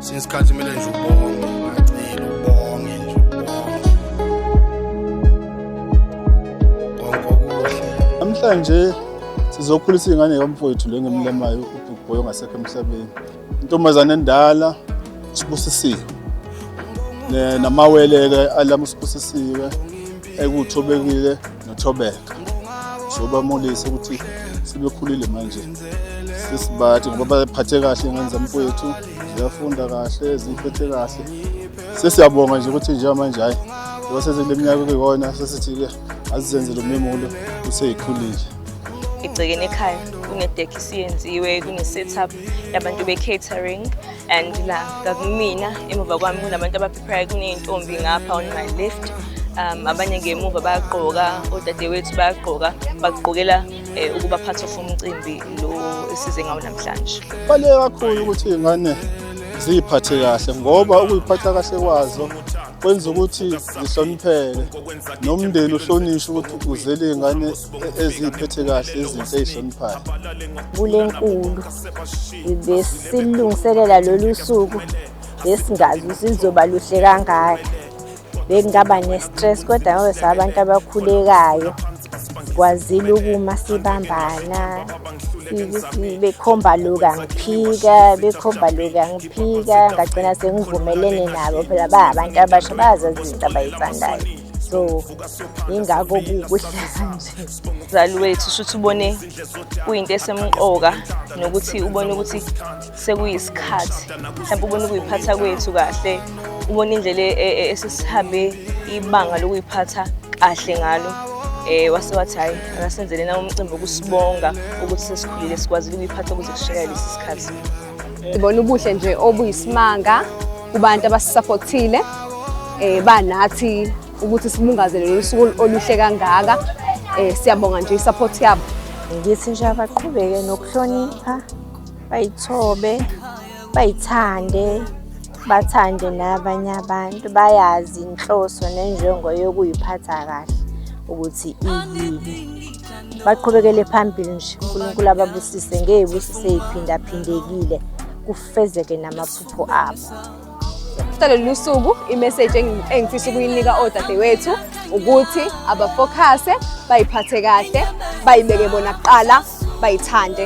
Singesikhathi mina nje ubonge, ngacela ubonge nje ubonge. Konke okuhle. Namhlanje sizokhulisa ingane yomfowethu le ngimlemayo uBig Boy ongasekho emhlabeni. Intombazane endala sibusisiwe. Namawele-ke alamusibusisiwe. ekuthobekile nothobeka sobamulise ukuthi sebekhulile manje sesibathi ngoba baphathe kahle ingane zamfowethu ziyafunda kahle ziphethe kahle sesiyabonga nje ukuthi njengamanje hhayi ngoba sezile minyaka kuyona sesithi-ke azizenzele umemulo useyikhulile egcekeni ekhaya kune-deck isiyenziwe kune-setup yabantu be-catering and la kakumina emuva kwami kunabantu Prayer kuney'ntombi ngapha on my left um abanye ngemuva bayagqoka odadewethu bayagqoka bagqokela um ukuba part of umcimbi lo esize ngawo namhlanje kubaluleke kakhulu ukuthi iy'ngane ziyiphathe kahle ngoba ukuyiphatha kahle kwazo kwenza ukuthi zihlonipheke nomndeni uhlonishwe ukuthi uzele iy'ngane e-, eziyiphethe kahle izinto ey'hloniphayo kule nkulu besilungiselela lolu suku besingazi ukuthi lizoba luhle kangaka bekungaba ne-stress kodwa ngoba sabantu abakhulekayo kwazile ukuma sibambana bekhomba loku angiphika bekhomba loku angiphika ngagcina sengivumelene nabo phela bahabantu abasha bazazi izinto abayithandayo so ingakho kukuhlala nje mzali wethu shuthi ubone kuyinto esemqoka nokuthi ubone ukuthi sekuyisikhathi mhlawumbe ubona ukuyiphatha kwethu kahle ubona indlela e, e, esisihambe ibanga lokuyiphatha kahle ngalo um wase wathi hhayi akasenzele na umcimbi wokusibonga ukuthi sesikhulile sikwazile ukuyiphatha ukuze kushekele lesi sikhathi ngibona ubuhle nje obuyisimanga kubantu abasisapothile um eh, banathi ukuthi sibungaze lolu suku oluhle kangaka um siyabonga nje i-support yabo ngithi nje abaqhubeke nokuhlonipha bayithobe bayithande bathande nabanye abantu bayazi inhloso nenjongo yokuyiphatha kahle ukuthi iyini baqhubekele phambili nje unkulunkulu ababusise ngeyibusise iphindaphindekile kufezeke namaphupho abo Kuhlalele usuku imessage engifisa ukuyinika odadewethu ukuthi abafokhase bayiphathe kahle bayibeke bona kuqala bayithande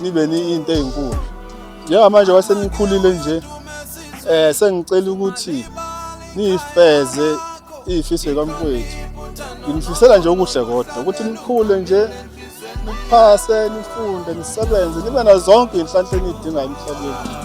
nibe niyinto ezinkulu njengamanje wasenikhulile nje eh sengicela ukuthi nifeze ifiso kamfowethu ngifisela nje okuhle kodwa ukuthi nikhule nje niphase nifunde nisebenze nibe nazo zonke inhlanhla enidingayo emhlabeni